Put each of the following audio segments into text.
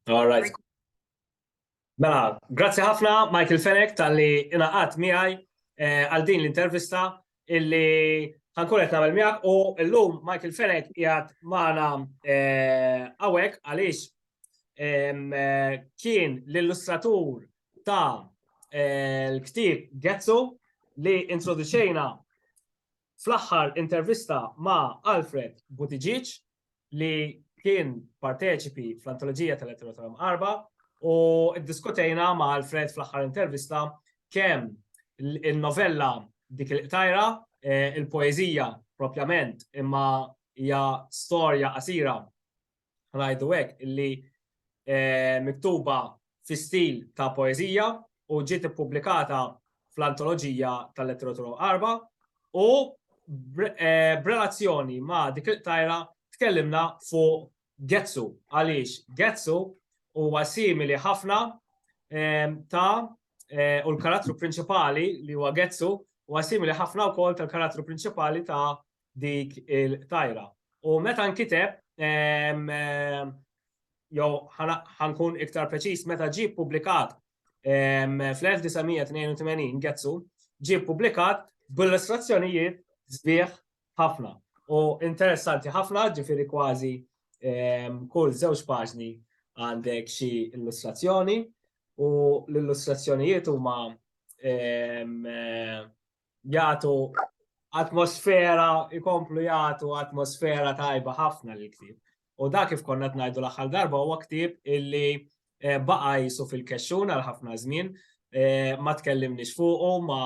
All right. Mela, grazzi ħafna Michael Fenek tal-li inaqat miħaj eh, għal din l-intervista illi ħankun qed nagħmel miegħek u llum Michael Fenek jgħat magħna eh, hawnhekk għaliex eh, kien l-illustratur ta' l-ktib Getzu li introduċejna fl-aħħar intervista ma' Alfred Buttigieg li kien parteċipi fl-antoloġija tal-Eterotoram Arba u ddiskutejna ma' Alfred fl-aħħar intervista kemm il-novella dik il-qtajra, eh, il-poezija propjament, imma hija storja qasira ngħidu hekk illi miktuba fi stil ta' poeżija u ġiet ippubblikata fl-Antoloġija tal-Letteratura Għarba u b'relazzjoni ma' dik il-qtajra tkellimna fuq Getsu għaliex Getsu huwa simili ħafna ta' u l-karattru prinċipali li huwa Getsu huwa simili ħafna wkoll tal-karattru prinċipali ta' dik il-tajra. U meta nkiteb, jew ħankun iktar preċiż, meta ġie ppubblikat fl-1982 Getsu, ġie ppubblikat b'illustrazzjonijiet sbieħ ħafna u interessanti ħafna, ġifieri kważi kull żewġ paġni għandek xi illustrazzjoni u l-illustrazzjonijiet huma jagħtu atmosfera, ikomplu jagħtu atmosfera tajba ħafna l ktieb U dak kif konna tnajdu l-aħħar darba huwa ktieb illi eh, baqa jisu fil-kexxun għal ħafna żmien, eh, ma tkellimniex fuqu, ma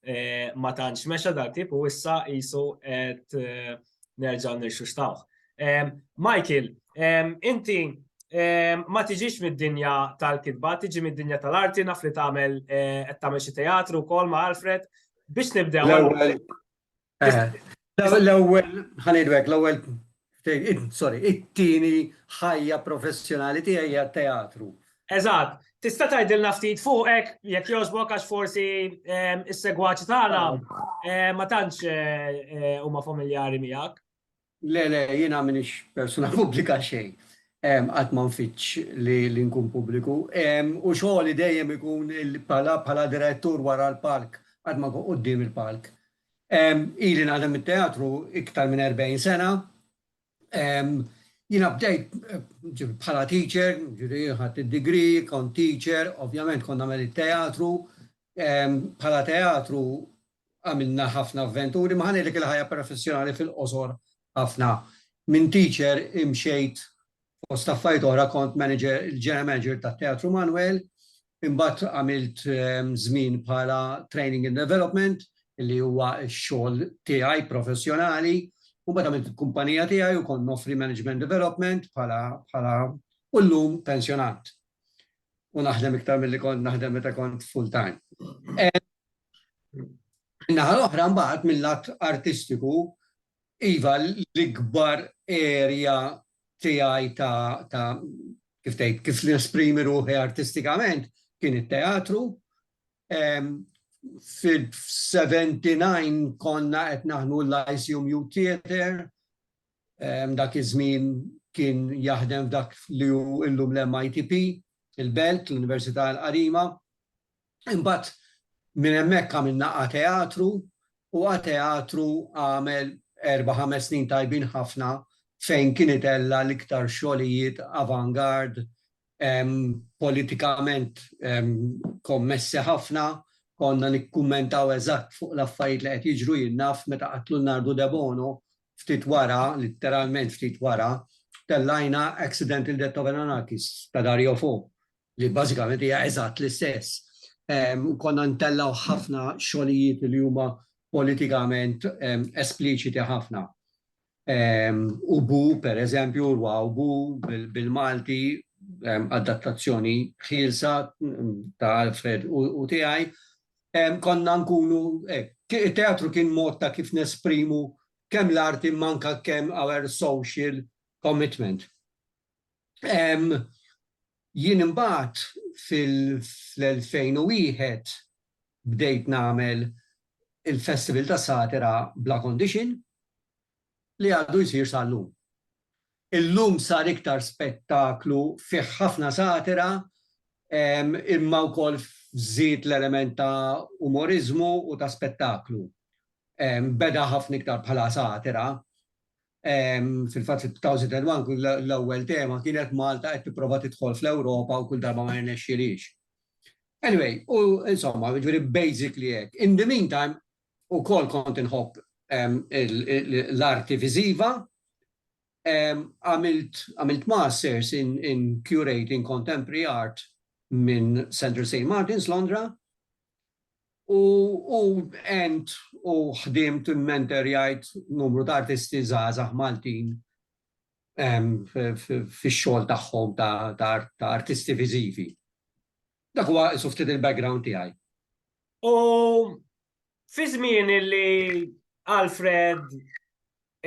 eh, ma tantx mexa dal-ktieb u issa jisu qed nerġaw nirxuxtawh. Michael, inti ma tiġix mid-dinja tal-kitba, tiġi mid-dinja tal-arti, naf li tagħmel eh, qed tagħmel xi teatru wkoll ma' Alfred biex nibdew. L-ewwel eh, l-ewwel ħanidwek l-ewwel sorry, it-tieni ħajja professjonali tiegħi hija teatru. Eżatt. Tista' tgħidilna ftit fuqek jekk jogħġbok għax forsi ehm, is-segwaċi tagħna ehm, ma tantx eh, eh, huma familjari miegħek. Le, le, jiena minix persuna pubblika xejn. Ehm, Qatt ma nfittx li li nkun pubbliku. Ehm, U xogħli dejjem ikun il- bħala bħala direttur wara l-palk, qatt ma nkun quddiem il-palk. Ehm, Ili naħdem it-teatru iktar minn 40 sena, Jiena bdejt bħala teacher, ġifieri ħadt id-degree, kont teacher, ovvjament kont nagħmel it-teatru. Bħala teatru għamilna ħafna avventuri, ma ħa ngħidlek il-ħajja professjonali fil-qosor ħafna. Minn teacher imxejt fost affarijiet oħra kont manager, il-general manager tat-Teatru Manwel, Imbagħad għamilt żmien bħala training and development li huwa x-xogħol tiegħi professjonali. Imbagħad għamilt il-kumpanija tiegħi u kont noffri management development bħala bħala u llum pensjonat. U naħdem iktar milli kont naħdem meta kont full time. Min-naħa l-oħra mbagħad mil-lat artistiku Iva, l-ikbar area tiegħi ta' ta' kif tgħid, kif nesprimi ruħi artistikament kien it-teatru. Fil-79 konna qed naħdmu l-Lyceum Youth Theatre, dak iż-żmien kien jaħdem f'dak li hu llum l-MITP, il-Belt, l-Università l-Qarima. Imbagħad minn hemmhekk għamilna A Teatru u A Teatru għamel erba' ħames snin tajbin ħafna fejn kien itella' l-iktar xogħlijiet avant-garde, politikament kommessi ħafna, konna nikkummentaw eżatt fuq l-affarijiet li qed jiġru jien naf meta qatlu Nardu Debono ftit wara, litteralment ftit wara, tellajna Accidental Death of an Anarchist ta' Dario Fo li bażikament hija eżatt l-istess. U konna ntellgħu ħafna xogħlijiet li huma politikament espliċiti ħafna. U bu, per eżempju, urwa u bu bil-Malti, adattazzjoni ħielsa ta' Alfred u tiegħi, konna nkunu, it-teatru kien mod ta' kif nesprimu kemm l-arti imma anke kemm our social commitment. Jien imbagħad fil-2001 bdejt nagħmel il-Festival tas-Satira Bla Condition li għadu jsir sal-lum. Illum sar iktar spettaklu fih ħafna satira imma wkoll żied l-element ta' umoriżmu u ta' spettaklu. Beda ħafna iktar bħala satira Fil-fatt fit-2001 l-ewwel tema kienet Malta qed tipprova tidħol fl-Ewropa u kull darba ma jirnexxilhiex. Anyway, u insomma, jiġifieri basically hekk. In the meantime, ukoll kont inħobb l-arti viżiva. Għamilt masters in curating contemporary art minn Central Saint Martins, Londra, U u ent u ħdimt u mmenterjajt numru ta' artisti żgħażagħ Maltin em, f- f- fix-xogħol tagħhom ta' ta' art- ta' artisti viżivi. Dak huwa isu ftit il-background tiegħi. U fi żmien li Alfred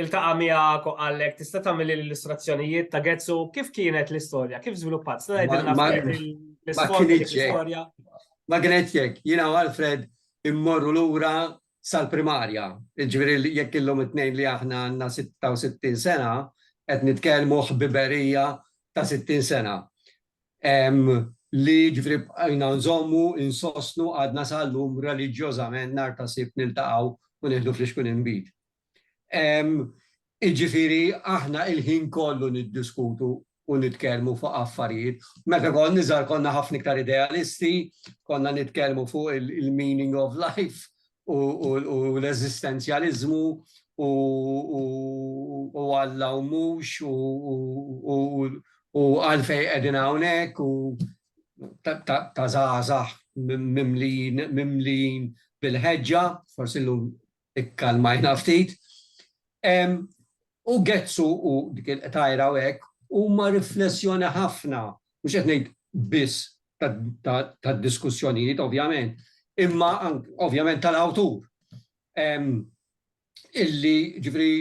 iltaqa' miegħek u qallek tista' tagħmel l-illustrazzjonijiet ta' Getsu kif kienet l-istorja, kif żviluppat, tista' tgħidilna l-istorja l-istorja. Ma kienet jekk, jiena u Alfred immorru lura sal-primarja, ġifieri jekk illum it-tnejn li aħna għandna 66 sena, qed nitkellmu ħbiberija ta' 60 sena. Li ġifieri bqajna nżommu, insostnu għadna sal-lum reliġjożament nhar ta' Sibt niltaqgħu u nieħdu fl-ixkun inbid. Jiġifieri aħna l-ħin kollu niddiskutu u nitkellmu fuq affarijiet. Meta kont iżgħar konna ħafna iktar idealisti, konna nitkellmu fuq il-meaning of life u l-eżistenzjaliżmu u Alla u mhux u għalfejn qegħdin hawnhekk u ta' żgħażagħ mimlijin bil-ħeġġa, forsi llum ikkalmajna ftit. U Gezzu u dik il-qtajra u hekk huma riflessjoni ħafna, mhux qed ngħid biss tad-diskussjonijiet ovvjament, imma ovvjament tal-awtur. Illi ġifieri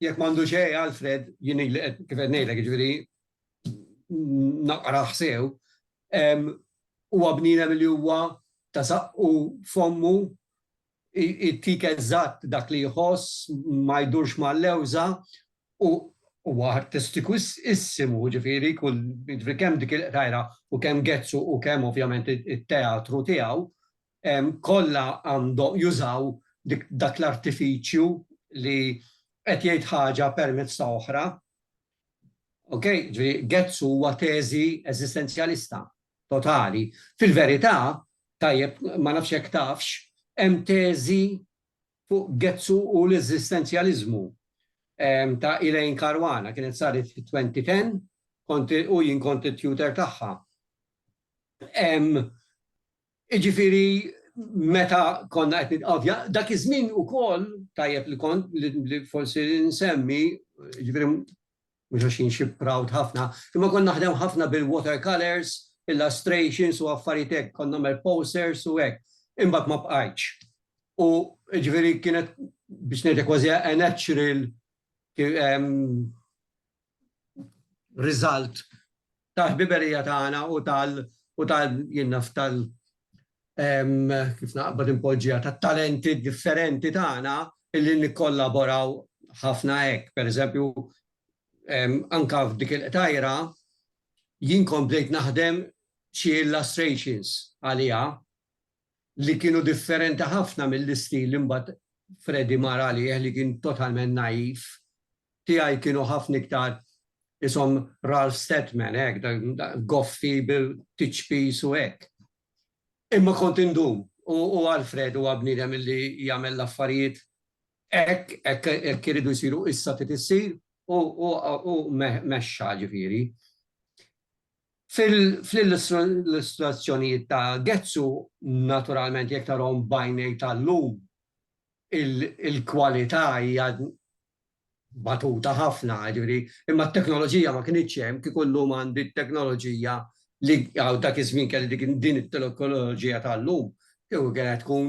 jekk m'għandu xejn Alfred, jien illi qed kif qed ngħidlek jiġifieri naqrah sew, huwa bniedem li huwa ta' saqqu f'ommu Jtik eżatt dak li jħoss, ma jdurx mal-lewża u huwa artistiku issimu, jiġifieri kull, jiġifieri kemm dik il-qrajra u kemm Gezzu u kemm ovvjament it-teatru tiegħu kollha għandhom jużaw dik dak l-artifiċju li qed jgħid ħaġa permezz ta' oħra. Okej, ġifieri Goetz huwa teżi eżistenzjalista totali. Fil-verità, tajjeb, ma nafx jekk tafx, hemm teżi fuq Goetz u l-eżistenzjaliżmu ta' Elaine Caruana, kienet saret fit-2010, kont, u jien kont it-tutor tagħha. Jiġifieri meta konna qed nitqavja, dak iż-żmien ukoll tajjeb li kont li forsi nsemmi, jiġifieri mhux għax jien xi proud ħafna, imma kont naħdem ħafna bil-water colours, illustrations u affarijiet hekk, kont nagħmel posters u hekk. Imbagħad ma bqajtx. U jiġifieri kienet biex ngħidlek kważi a natural riżalt tal-ħbiberija tagħna u tal u tal jien naf tal kif naqbad inpoġġiha tat-talenti differenti tagħna illi nikkollaboraw ħafna hekk. Per eżempju, anka f'dik il-qtajra jien komplejt naħdem xi illustrations għaliha li kienu differenti ħafna mill-istil li mbagħad Freddie mar għalih li kien totalment naif, tiegħi kienu ħafna iktar ishom Ralph Steadman hekk, goffi bit-tiċpis u hekk. Imma kont indum u Alfred huwa bniedem li jagħmel l-affarijiet hekk, hekk iridu jsiru, issa trid issir u mexxa ġifieri. Fl-illustrazzjonijiet ta' Getzu, naturalment jekk tarahom b'għajnejk tal-lum, il-kwalità hija batuta ħafna, jiġifieri, imma t-teknoloġija ma kinitx hemm, kieku llum għandi t-teknoloġija li dak iż-żmien kelli din it-teknoloġija tal-lum, kieku kienet tkun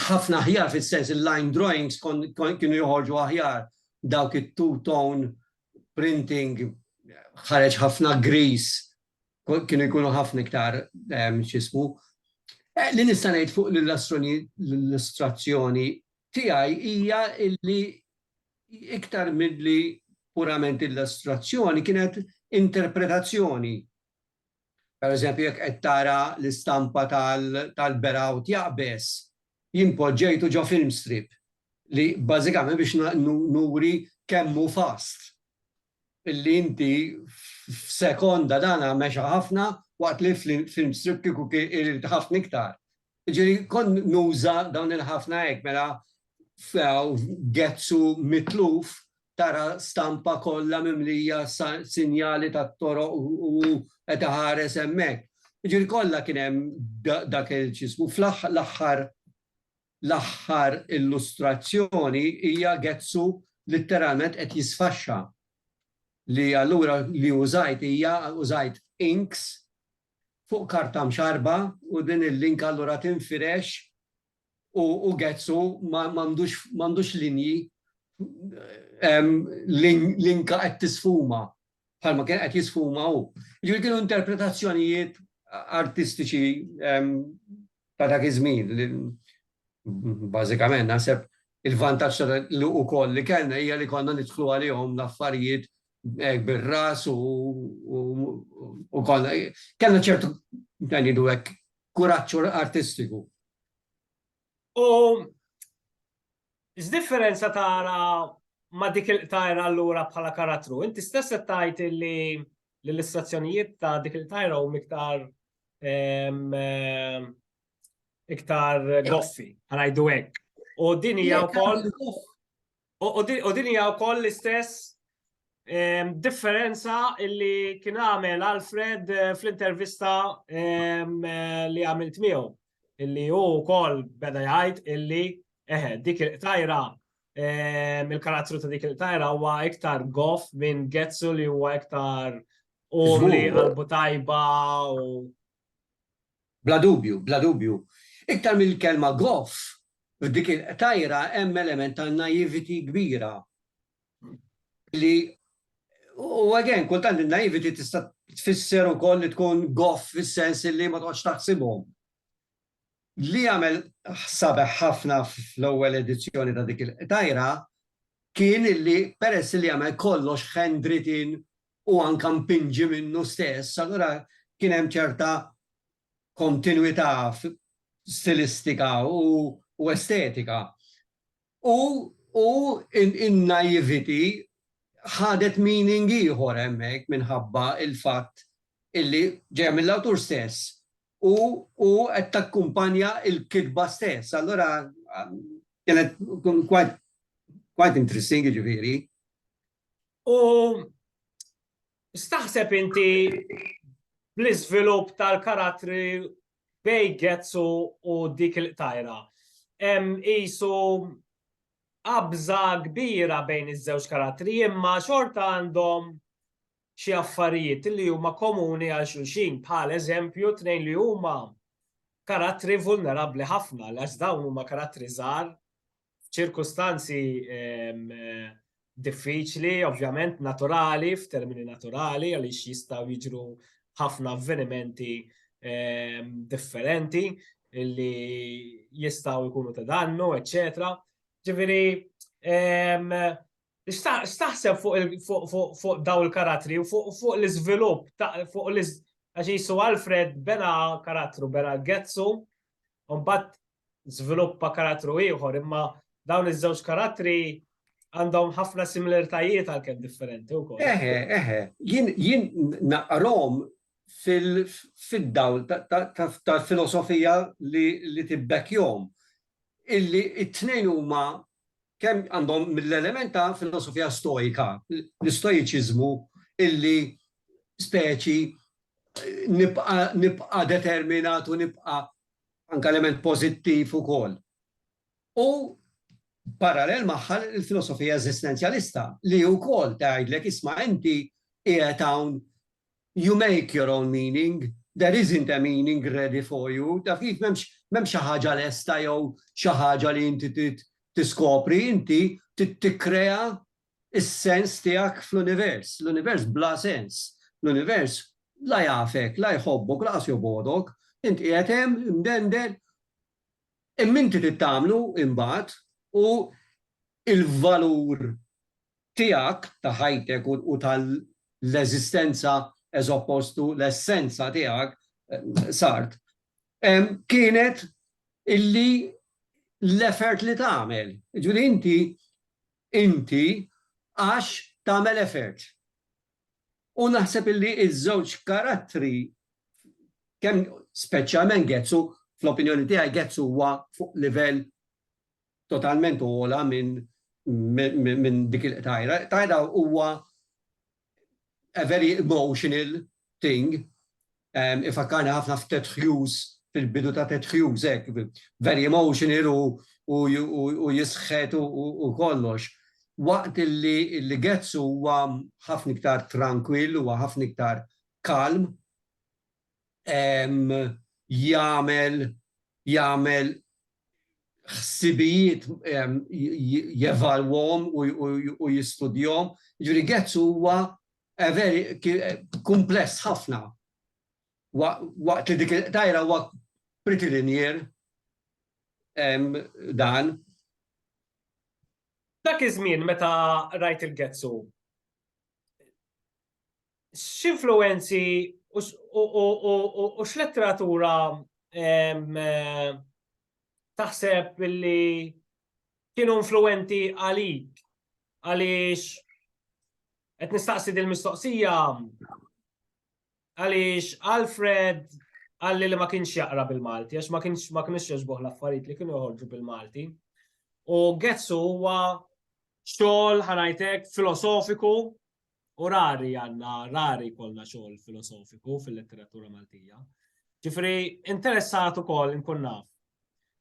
ħafna aħjar fis-sens il-line drawings kienu joħorġu aħjar dawk it-two-tone printing ħareġ ħafna grease kienu jkunu ħafna iktar x'ismu. Eh, li nista' ngħid fuq l-illustrazzjoni tiegħi hija illi iktar milli purament illustrazzjoni kienet interpretazzjoni Pereżempju, jekk qed tara l-istampa tal-Beraut Jaqbeż, jien poġġejtu ġo film strip li bażikament biex nuri kemm hu fast illi inti f'sekonda dan mexa ħafna waqt li film strip kieku kien irid ħafna iktar Ġiri, kon nuża dawn il-ħafna hekk, mela gezzu mitluf tara stampa kollha mimlija sinjali tat-toroq u qed iħares hemmhekk. Ġiri kollha kien hemm dak il-ċismu. Fl-aħħar l-aħħar illustrazzjoni hija gezzu litteralment qed jisfaxxa li allura li użajt hija użajt inks fuq karta mxarrba u din il-linka allura tinfirex u gezzu m'għandux linji, linka qed tisfuma bħalma kien qed jisfuma hu. Jiġifieri kienu interpretazzjonijiet artistiċi ta' dak iż-żmien li bażikament naħseb il-vantaġġ li ukoll li kellna hija li konna nidħlu għalihom l-affarijiet hekk bir-ras u konna kellna ċertu ngħidu hekk kuraġġ artistiku. U x'differenza tara ma' dik il-qtajra allura bħala karattru? Inti stess qed tgħid li l-illustrazzjonijiet ta' dik il-qtajra huma iktar iktar goffi, ngħidu hekk. U din hija wkoll U din hija wkoll l-istess differenza li kien għamel Alfred fl-intervista li għamilt miegħu. Illi hu wkoll beda jgħid illi eħe dik il-qtajra il-karattru ta' dik il-qtajra huwa iktar goff minn Getsu li huwa iktar umli qalbu tajba u Bla dubju, bla dubju. Iktar mill-kelma goff, f'dik il-qtajra hemm element ta' naïvety kbira li u again, kultant in-naïvety tista' tfisser ukoll li tkun goff fis-sens illi ma toqgħodx taħsibhom. Li għamel sabiħ ħafna fl-ewwel edizzjoni ta' dik il-qtajra kien illi peress illi għamel kollox handwritten u anke mpinġi minnu stess, allura kien hemm ċerta kontinwità stilistika u estetika. U u in-naïvity ħadet meaning ieħor hemmhekk minħabba l-fatt illi ġejja mill-awtur stess u u qed takkumpanja l-kitba stess. Allura kienet quite quite interesting jiġifieri. U staħseb inti bl-iżvilupp tal-karattri bej Getzu u dik il-qtajra. Isu qabża kbira bejn iż-żewġ karattri imma xorta għandhom xi affarijiet li huma komuni għal xulxin bħal eżempju tnejn li huma karattri vulnerabbli ħafna għax dawn huma karattri żgħar f'ċirkustanzi diffiċli, ovvjament naturali, f'termini naturali, għaliex jistgħu jiġru ħafna avvenimenti differenti li jistgħu jkunu ta' dannu, eċċetera. Ġifieri, x'taħseb fuq daw il-karattri u fuq l-iżvilupp, fuq l-iż... Għax jisu Alfred bena karattru, bena Getzu, un bat żviluppa karattru ieħor, imma dawn iż-żewġ karattri għandhom ħafna similaritajiet għalkemm differenti wkoll. Eħe, eħe, jien naqrom fid-dawl tal-filosofija li tibbek jom, illi it-tnejn huma kemm għandhom mill-element ta' filosofija stoika, l-istoiċiżmu illi speċi nibqa' determinat u nibqa' anke element pożittiv ukoll. U parallel magħha l-filosofija eżistenzjalista li wkoll tgħidlek isma' inti qiegħed hawn you make your own meaning, there isn't a meaning ready for you, taf kif m'hemmx xi ħaġa lesta jew xi ħaġa li inti trid tiskopri, inti trid tikkrea is-sens tiegħek fl-univers. L-univers bla sens. L-univers la jafek, la jħobbok, lanqas jobgħodok. Int qiegħed hemm, imdendel, imma inti trid tagħmlu imbagħad u l-valur tiegħek ta' ħajtek u tal-eżistenza as opposed to l-essenza tiegħek, Sartre, kienet illi l-effort li tagħmel. Ġifieri inti inti għax tagħmel effort. U naħseb illi ż-żewġ karattri kemm speċjalment Ghezzu, fl-opinjoni tiegħi Ghezzu huwa fuq livell totalment ogħla minn dik il-qtajra. Tajra huwa a very emotional thing, ifakkarna ħafna f'Ted Hughes, fil-bidu ta' Ted Hughes, ek, very emotional u jisħet u kollox. Waqt li Getz huwa ħafna iktar tranquil, huwa ħafna iktar kalm, jagħmel jagħmel ħsibijiet jevalwhom u jistudjhom. Jiġifieri Getz huwa very kumpless ħafna. Waqt li dik il-qtajra huwa pretty linear dan. Dak iż-żmien meta rajt il-Getz u x'influwenzi u x'letteratura taħseb li kienu influwenti għalik? Għaliex qed nistaqsi din mistoqsija għaliex Alfred għalli li ma kienx jaqra bil-Malti, għax ma kienx ma kienx jogħġbuh l-affarijiet li kienu joħorġu bil-Malti. U Getsu huwa xogħol ħanajtek filosofiku U rari għanna, rari kolna xogħol filosofiku fil-letteratura Maltija. Ġifri, interessat ukoll nkun naf.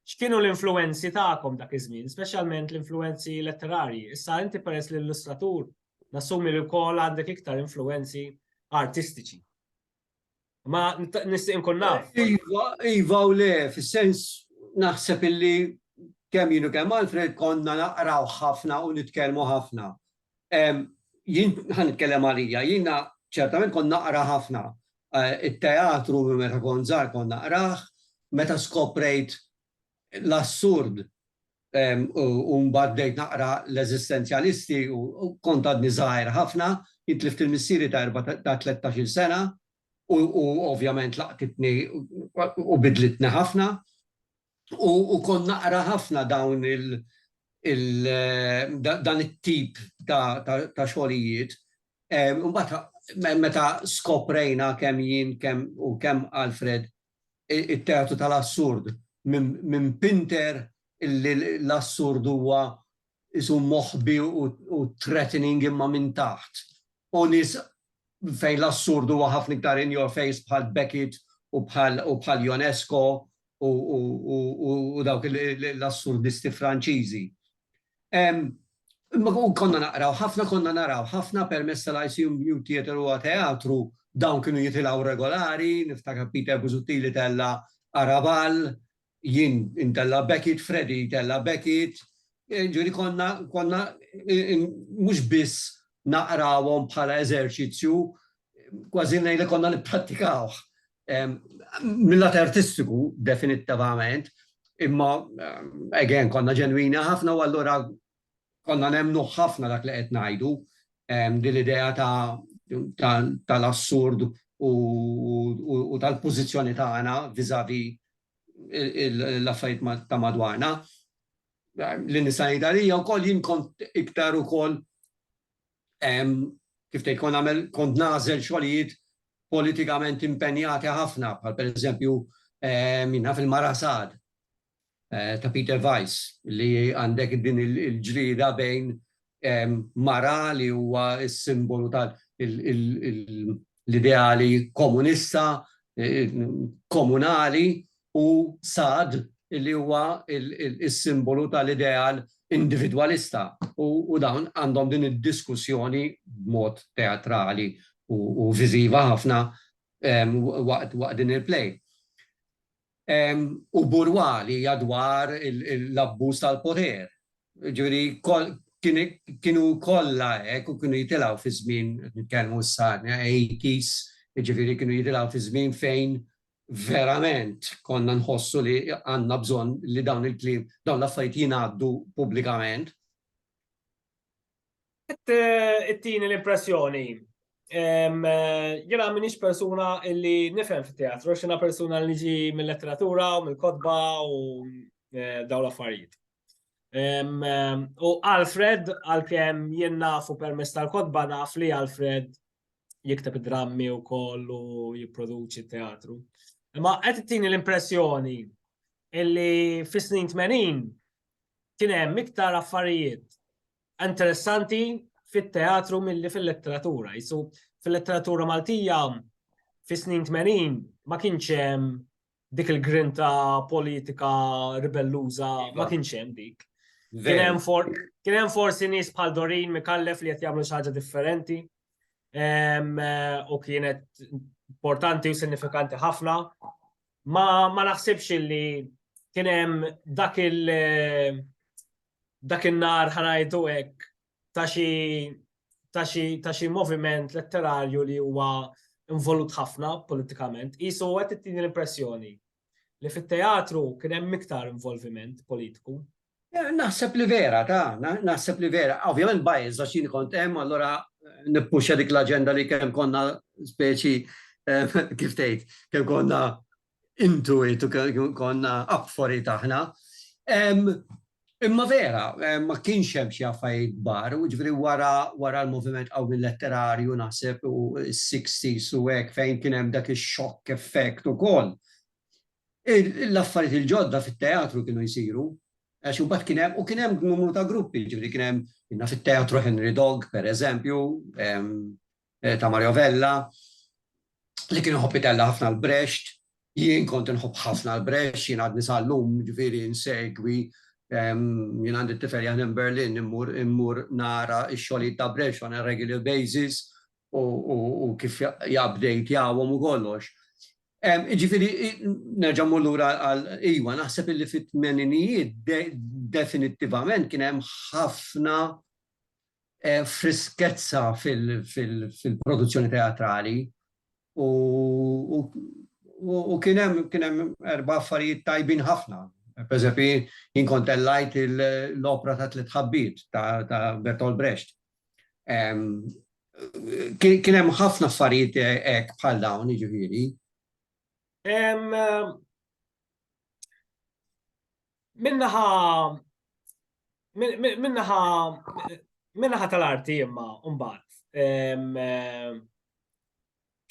X'kienu l-influenzi tagħkom dak iż-żmien, speċjalment l-influenzi letterarji. Issa inti peress l-illustratur, nassumi li wkoll għandek iktar influenzi artistiċi. Ma nistaq inkun naf. Iva, iva u le, fis-sens naħseb illi kemm jienu kemm Alfred konna naqraw ħafna u nitkellmu ħafna. Jien ħan nitkellem għalija, jiena ċertament kont naqra ħafna. Eh, it-teatru meta kont żgħar kont naqrah, meta skoprejt l-assurd u mbagħad bdejt naqra l-eżistenzjalisti u kont għadni żgħir ħafna, jien tlift il-missieri ta' erba' ta' tlettax-il sena u ovvjament laqtitni u bidlitni ħafna u kont naqra ħafna dawn il dan it-tip ta' xogħlijiet. Imbagħad meta skoprejna kemm jien u kemm Alfred it-teatru tal-assurd minn pinter illi l-assurd huwa isu moħbi u threatening imma minn taħt. U nis fejn l-assurd huwa ħafna iktar in your face bħal Beckett u bħal Ionesco u dawk l-assurdisti Franċiżi. Konna naqraw ħafna, konna naraw ħafna permezz tal-ICU New Theatre huwa teatru, dawn kienu jitilgħu regolari, niftakar Peter Busuttil tella' Arabal, jien intella' Beckett, Freddy tella' Beckett, ġifieri konna konna mhux biss naqrawhom bħala eżerċizzju, kważi ngħidlek konna nipprattikawh. Mill-lat artistiku, definittivament, imma again konna ġenwini ħafna u allura konna nemmnu ħafna dak li qed ngħidu din l-idea tal-assurd u tal-pożizzjoni tagħna vizavi l-affarijiet ta' madwarna. L-insanitarija wkoll jien kont iktar ukoll kif tgħid, kont nagħmel, kont nagħżel xogħlijiet politikament impenjati ħafna, bħal pereżempju min naf il-Marasad ta' Peter Weiss li għandek din il-ġlieda bejn mara li huwa s-simbolu tal l-ideali komunista, komunali u sad li huwa s-simbolu tal-ideal individwalista u dawn għandhom din id-diskussjoni b'mod teatrali u viżiva ħafna waqt din il-play. u Burwa li hija dwar l-abbuż tal-poter. Ġifieri kienu kollha hekk u kienu jitilgħu fi żmien qed nitkellmu issa 80s, jiġifieri kienu jitilgħu fi żmien fejn verament konna nħossu li għandna bżonn li dawn il-kliem, dawn l-affarijiet jingħaddu pubblikament. It-tieni l-impressjoni. Jena minix persuna illi nifhem fit-teatru, xina persuna li ġi mill-letteratura u mill-kodba u eh, daw l-affarijiet. U Alfred, għal-kem jien nafu permess tal-kodba naf li Alfred jikteb drammi u kollu jipproduċi teatru. Imma qed tini l-impressjoni illi fis-snin 80 kien hemm iktar affarijiet interessanti fit-teatru milli fil-letteratura. Jisu fil-letteratura Maltija fis-snin 80 ma kienx hemm dik il-grinta politika ribelluża, iva. ma kienx hemm dik. Kien hemm forsi nies bħal Dorin Mikallef li qed jagħmlu xi ħaġa differenti u kienet importanti u sinifikanti ħafna. Ma, ma naħsibx li kien hemm dak il dak in-nhar ħa ngħidu hekk ta' xi ta' xi ta' xi moviment letterarju li huwa involut ħafna politikament, qisu huwa qed ittini l-impressjoni li fit-teatru kien hemm iktar involviment politiku. Naħseb li vera, ta, naħseb li vera. Ovvjament biased għax jien kont hemm allura nippuxxa dik l-aġenda li kemm konna speċi kif tgħid, kemm konna Intu għidt u konna apforit aħna. Imma vera, ma kienx hemm xi affarijiet kbar, u jiġifieri wara l-moviment qawwi letterarju naħseb u s-sixties u hekk fejn kien hemm dak ix-shock effect ukoll, l-affarijiet il-ġodda fit-teatru kienu jsiru, għax imbagħad kien hemm, u kien hemm numru ta' gruppi, jiġifieri kien hemm, naf it-Teatru Henry Dogg, pereżempju, ta' Mario Vella, li kien iħobb itella' ħafna l-Brecht, jien kont inħobb ħafna l-Brecht, jien għadni sal-lum ġifieri nsegwi, jien għandi t-tifel jaħdem Berlin, immur nara x-xogħlijiet ta' Brecht on a regular basis u kif japdejtjawhom u kollox. Jiġifieri nerġa' mmur lura għal, iwa, naħseb illi fit-tmeninijiet definittivament kien hemm ħafna friskezza fil-produzzjoni teatrali u kien hemm erba' affarijiet tajbin ħafna. Pereżempju, jien kont tellajt l-opra ta' Tliet Ħabbiet ta' Bertolt Brecht. Kien hemm ħafna affarijiet hekk bħal dawn, jiġifieri. Minnaħa minnaħa minnaħa tal-arti imma mbagħad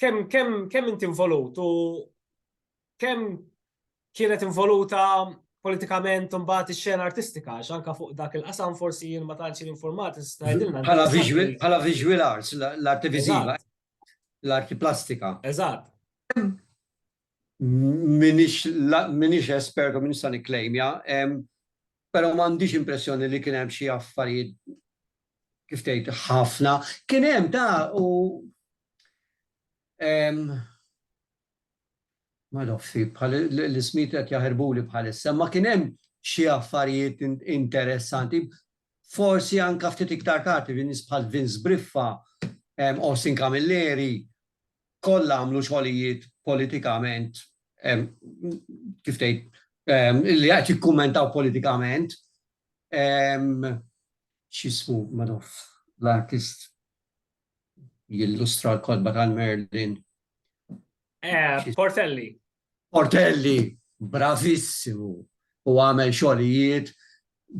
kemm kemm kemm inti involut u kemm kienet involuta politikament mbagħad ix-xena artistika għax anke fuq dak il-qasam forsi jien ma tantx informat tgħidilna. Bħala visual bħala visual arts l-arti viżiva l-arti plastika. Eżatt. m'iniex espert u m'iniex se nikklejmja, però m'għandix impressjoni li kien hemm xi affarijiet kif tgħid ħafna. Kien hemm ta' u ma nafx bħal l-ismijiet qed jaħarbuli bħalissa, ma kien hemm xi affarijiet interessanti. Forsi anke ftit iktar tard nies bħal Vince Briffa, Austin Camilleri, kollha għamlu xogħlijiet politikament kif tgħid li qed jikkummentaw politikament x'ismu madoff l-artist jillustra l-kotba tal-Merlin. Portelli. Portelli bravissimu u għamel xogħlijiet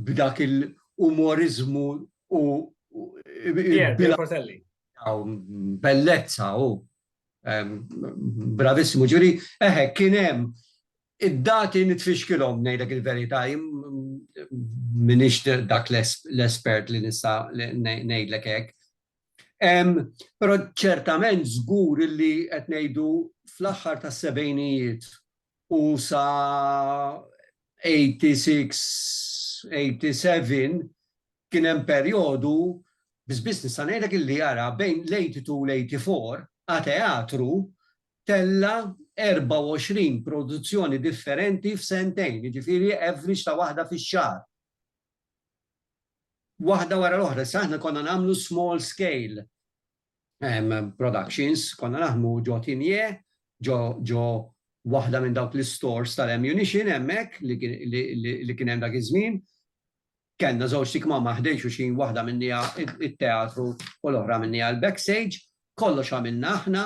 b'dak il-umoriżmu u Portelli. Bellezza u bravissimu ġuri, eħe kien hemm id-dati nitfixkilhom ngħidlek il-verità, m'iniex dak l-espert li nista' ngħidlek hekk. Però ċertament żgur illi qed ngħidu fl-aħħar tas-sebgħinijiet u sa 86, 87 kien hemm perjodu biss biss nista' ngħidlek illi ara bejn l-82 u l-84 A Teatru tella' 24 produzzjoni differenti f'sentejn, jiġifieri average ta' waħda fix-xahar. waħda wara l-oħra. Issa aħna konna nagħmlu small scale productions, konna naħdmu ġo Tinie, ġo waħda minn dawk l-istores tal-ammunition hemmhekk li kien hemm dak iż-żmien. Kellna żewġt ikmamar ħdejn xulxin, waħda minnija t-teatru u l-oħra minnija l-backstage. Kollox għamilna aħna.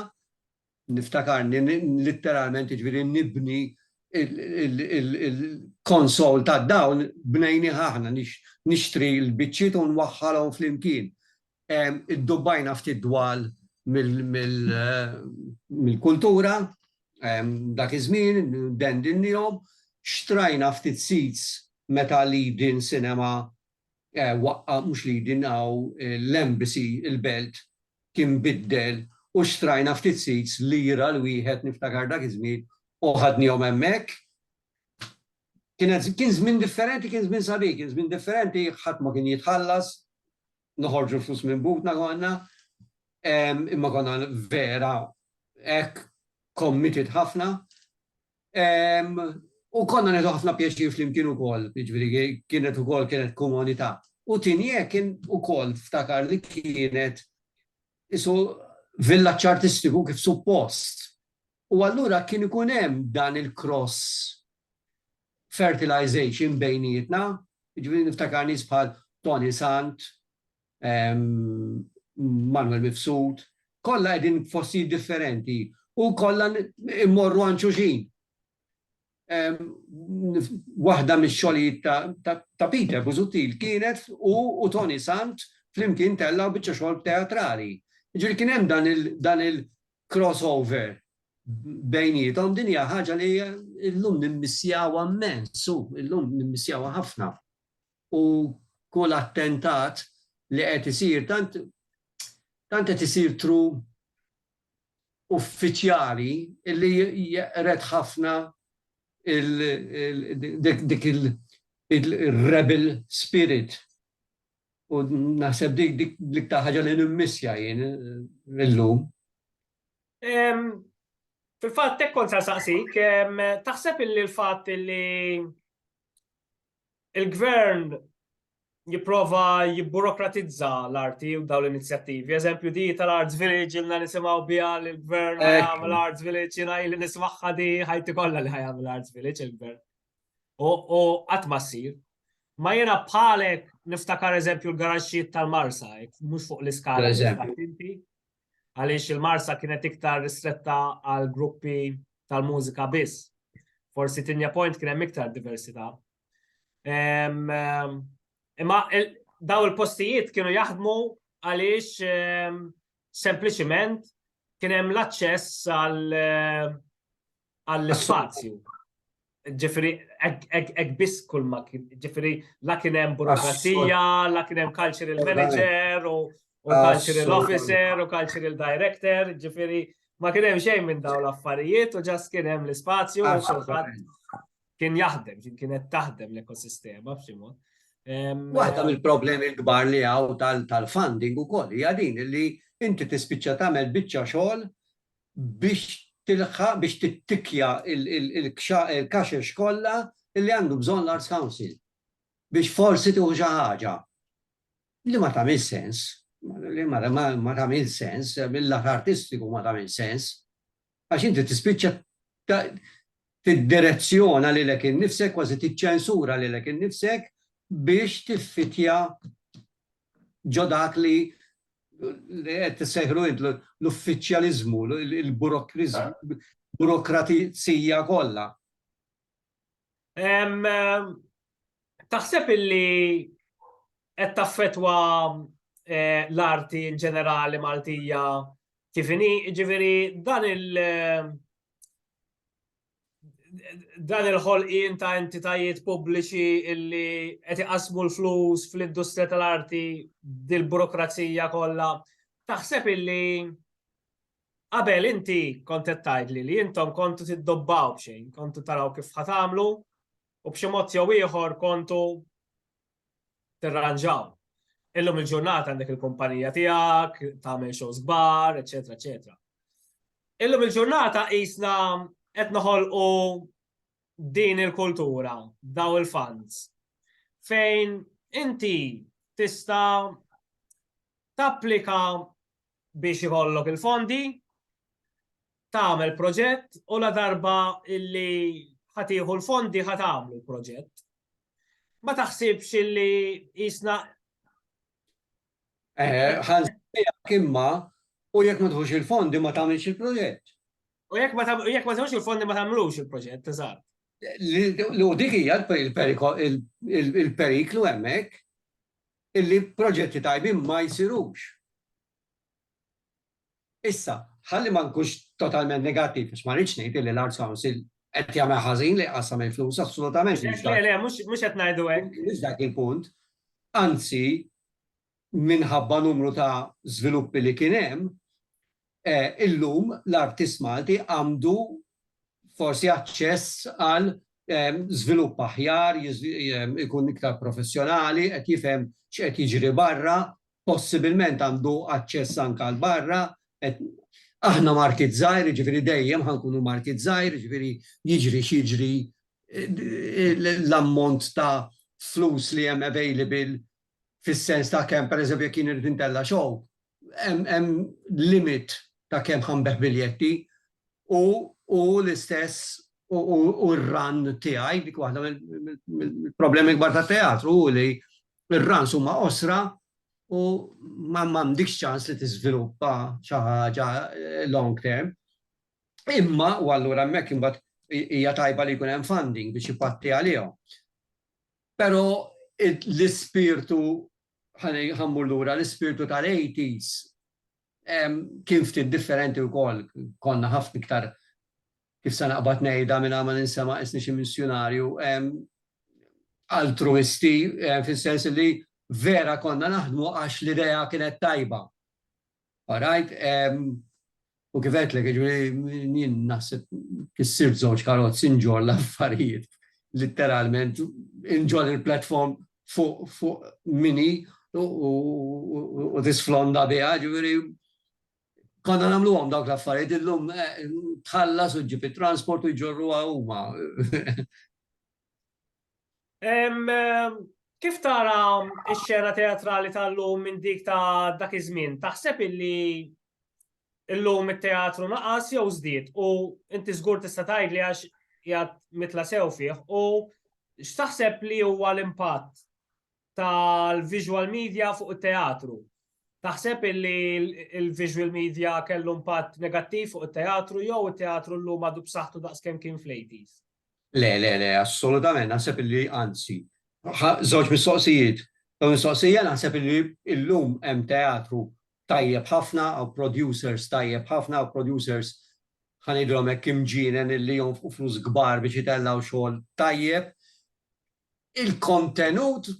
niftakarni litteralment jiġifieri nibni il-konsol tad-dawl bnejnieh aħna, nixtri l-biċċiet u nwaħħalhom flimkien. Iddubbajna ftit dwal mill-kultura dak iż-żmien, dendinnihom, xtrajna ftit seats meta li din sinema waqqa' mhux li din hawn l-embassy il-belt kien biddel u xtrajna ftit seats lira l-wieħed niftakar dak iż-żmien u ħadnihom hemmhekk. Kienet kien żmien differenti kien żmien sabiħ kien żmien differenti ħadd ma kien jitħallas noħorġu l-flus minn butna konna imma konna vera hekk committed ħafna U konna neħdu ħafna pjaċir flimkien ukoll, jiġifieri kienet ukoll kienet komunità. U Tinie kien ukoll ftakar li kienet isu villaġġ artistiku kif suppost. U allura kien ikun hemm dan il-cross fertilization bejnietna, jiġifieri niftakar nies bħal Toni Sant, Manuel Mifsud, kollha qegħdin f'postijiet differenti u kollha mmorru għand xulxin. Waħda mix-xogħlijiet ta' Peter Busuttil kienet hu u Toni Sant flimkien tellgħu biċċa xogħol teatrali. Jiġifieri kien hemm dan il-cross over bejniethom, din hija ħaġa li llum nimmissjawha mmens, llum nimmissjawha ħafna. u kull attentat li qed isir tant tant qed isir tru uffiċjali li jeqred ħafna dik il-rebel spirit u naħseb dik dik l-iktar ħaġa li nimmissja jien illum. Fil-fatt hekk kont saqsik, taħseb illi l-fatt illi Il-gvern jipprova jibburokratizza l-arti u daw l-inizjattivi. Eżempju di tal-Arts Village ilna nisimaw biha l-gvern għamil Arts Village jina li nismaħħa di ħajti kollha li ħajam l-Arts Village il-gvern. U qatt ma ssir. Ma jena bħalek niftakar eżempju l-garaxxiet tal-Marsa, mhux fuq l-iskala. għaliex il-Marsa kienet iktar ristretta għal gruppi tal-mużika biss. Forsi Tinja Point kien hemm iktar diversità. Imma daw il-postijiet kienu jaħdmu għaliex sempliċiment kien hemm l-aċċess għal għall-ispazju. Ġifiri, ek biss kull ma ġifiri, la kienem burokrazija, la kienem cultural manager, u cultural officer, u cultural director, ġifiri, ma kienem xejn minn daw l-affarijiet, u ġas kienem l-spazju, u xorħat kien jaħdem, kien kienet taħdem l-ekosistema, b'ximot. Waħda mill-problemi l-kbar li għaw tal-funding u koll, jadin li inti tispiċċa tamel bicċa xogħol biex tilħaq, biex tittikkja l-kaxex kollha li għandu bżonn l-Arts Council biex forsi tieħu xi ħaġa li ma tagħmilx sens, li ma tagħmilx sens, mill-lat artistiku ma tagħmilx sens, għax inti tispiċċa tiddirezzjona lilek innifsek, kważi tiċċensura lilek innifsek biex tiffittja ġo dak li qed tissejħlu int l-uffiċjaliżmu, il-burokriżmu, burokratizija kollha. Taħseb illi qed taffettwa eh, l-arti in ġenerali Maltija kif inhi, ġifieri dan il- dan il-ħolqien ta' entitajiet pubbliċi illi qed iqasmu l-flus fl-industrija tal-arti dil-burokrazija kollha. Taħseb illi qabel inti kont qed tgħidli li intom kontu tiddobbaw b'xejn, kontu taraw kif ħatamlu u b'xi mod jew ieħor kontu tirranġaw. Illum il-ġurnata għandek il-kumpanija tiegħek, tagħmel shows kbar, eċetera, eċetera. Illum il-ġurnata qisna qed noħolqu din il-kultura, daw il-fans, fejn inti tista' tapplika biex ikollok il-fondi, tagħmel proġett u la darba illi ħatiħu l-fondi ħatamlu l-proġett. Ma taħsibx illi jisna. Eh, ħan kimma u jekk ma tħux il-fondi ma tagħmilx il-proġett. U jekk ma tħux il-fondi ma tagħmlux il-proġett, eżatt. Lu dik hija il-periklu hemmhekk illi proġetti tajbin ma jsirux. Issa, ħalli ma nkunx totalment negattiv, għax ma rridx ngħid li l-Arts Council qed jagħmel ħażin li jqassam il-flus assolutament. Le, le, mhux qed ngħidu hekk. Mhux dak il-punt. Anzi, minħabba numru ta' żviluppi li kien hemm, eh, illum l-artist Malti għandu forsi aċċess għal ehm, żvilupp aħjar, ehm, ikun iktar professjonali, qed jifhem x'qed jiġri barra, possibilment għandu aċċess anke għal barra, qed aħna market żgħir, jiġifieri dejjem ħa nkunu market żgħir, jiġifieri jiġri x'jiġri l-ammont ta' flus li hemm available fis-sens ta' kemm pereżempju jekk jien irrid intella' show, hemm limit ta' kemm ħa nbigħ biljetti u l-istess u r-run tiegħi, dik waħda mill-problemi kbar tat-teatru hu li Ir-runs huma qosra u m'għandekx ċans li tiżviluppa xi ħaġa long term. Imma, u allura hemmhekk imbagħad hija tajba li jkun hemm funding biex ipatti għalihom. Però l-ispirtu, ħa mmur lura, l-ispirtu tal-80s kien ftit differenti wkoll, konna ħafna iktar kif se naqbad ngħidha mingħajr ma ninsa' ma qisni xi missjunarju, altruisti, fis-sens li vera konna naħdmu għax l-idea kienet tajba. All right? U kif għedtlek, jiġifieri jien naħseb kissirt żewġ karozzi nġorr l-affarijiet litteralment, inġorr il-platform fuq minni u tisflonda biha, jiġifieri Konna nagħmluhom dawk l-affarijiet illum tħallas u ġġib it-transport u jġorruha huma. Kif tara x-xena teatrali tal-lum minn dik ta' dak iż-żmien? Taħseb illi illum it-teatru naqas jew żdied u inti żgur tista' tgħidli għax jgħad mitla sew fih u x'taħseb li huwa l-impatt tal-visual media fuq it-teatru. Taħseb illi il-visual media kellu impatt negattiv fuq it-teatru jew it-teatru llum għadu b'saħħtu daqskemm kien fl-80s? Le, le, le, assolutament, naħseb illi anzi. Żewġ mistoqsijiet. Dawn mistoqsija naħseb illi illum hemm teatru tajjeb ħafna, u producers tajjeb ħafna, u producers ħanidhom hekk imġienen illi jonfqu flus kbar biex itellgħu xogħol tajjeb. Il-kontenut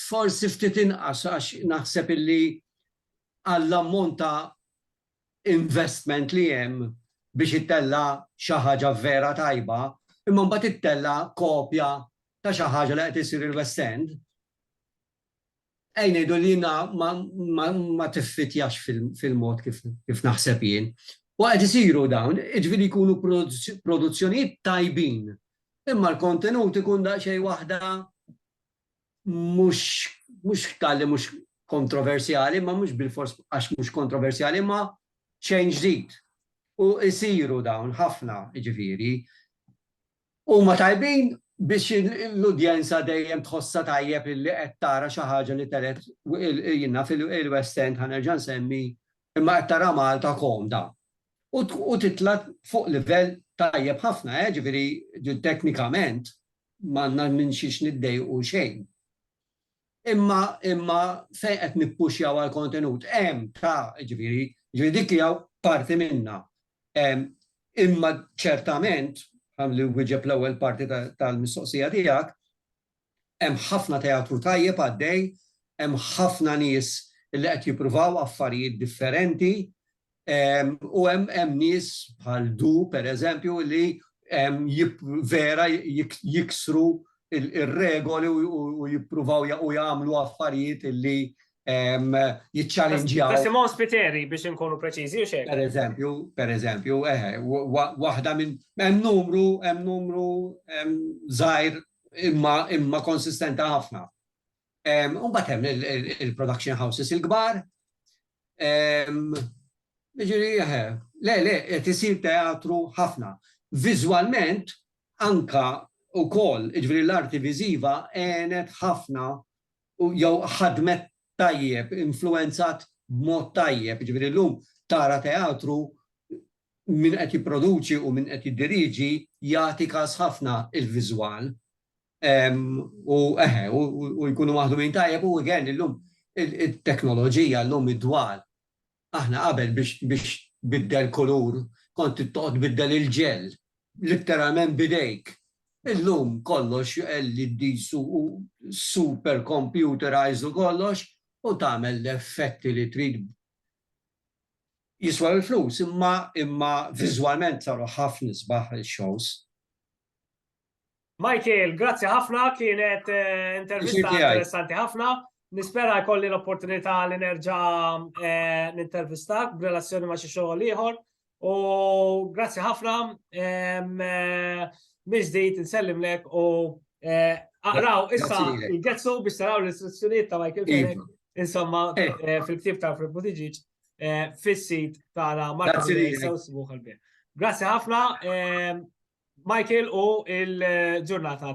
forsi ftit inqas għax naħseb illi għall-ammont ta' investment li hemm biex ittella' xi ħaġa vera tajba, imma mbagħad ittella' kopja ta' xi ħaġa li qed issir il-West End, Ej ngħidu li jiena ma tiffitjax fil-mod kif naħseb jien. U qed isiru dawn, jiġifieri jkunu produzzjonijiet tajbin, imma l-kontenut ikun daqsxejn waħda mhux tal-li mhux kontroversjali, imma mhux bilfors għax mhux kontroversjali, imma xejn ġdid. U jsiru dawn ħafna, jiġifieri. Huma tajbin biex l-udjenza dejjem tħossha tajjeb illi qed tara xi ħaġa li telgħet naf il-West End ħa nerġa' nsemmi imma qed tara Malta komda u titla' fuq livell tajjeb ħafna eh jiġifieri teknikament m'għandna minn xiex niddejqu xejn. Imma imma fejn qed nippuxjaw għal kontenut hemm ta' jiġifieri jiġifieri dik hija parti minnha. Imma ċertament, ħalli nwieġeb l-ewwel parti tal-mistoqsija tiegħek, hemm ħafna teatru tajjeb għaddej, hemm ħafna nies li qed jippruvaw affarijiet differenti, U hemm nies bħal Du, pereżempju, li vera jiksru r-regoli u jippruvaw jagħmlu affarijiet li jiċċalinġjaw. Simon Spiteri, biex inkunu preċiżi, u x'hekk. Pereżempju, pereżempju, eħe, waħda minn hemm numru, hemm numru żgħir imma konsistenti ħafna. U mbagħad hemm il-production houses il-kbar. Jiġifieri eħe, le le qed isir teatru ħafna. Viżwalment anke wkoll, jiġifieri l-arti viżiva għenet ħafna u jew ħadmet tajjeb, influwenzat b'mod tajjeb, jiġifieri llum tara teatru min qed jipproduċi u min qed jiddiriġi jagħti kas ħafna il-viżwal. U eħe, u jkunu maħdumin tajjeb u again illum it-teknoloġija llum id-dwal. Aħna qabel biex tbiddel kulur kont trid toqgħod tbiddel il-ġell litteralment b'idejk. Illum kollox LEDs u super computerized u kollox u tagħmel l-effetti li trid. Jiswew il-flus imma viżwalment saru ħafna isbaħ ix-shows. Michael, grazzi ħafna, kienet eh, intervista interessanti ħafna. Nispera jkolli l-opportunità li nerġa eh, nintervistak b'relazzjoni ma' xi xogħol ieħor. U grazzi ħafna, eh, miżdejt nsellimlek u aqraw issa il-getsu biex taraw l-istruzzjonijiet ta' Michael Fenech, iva. insomma, fil-ktib ta' Fred Buttigieg. eh, fis-sit tara Martin Grazzi ħafna, eh, Michael u il-ġurnata.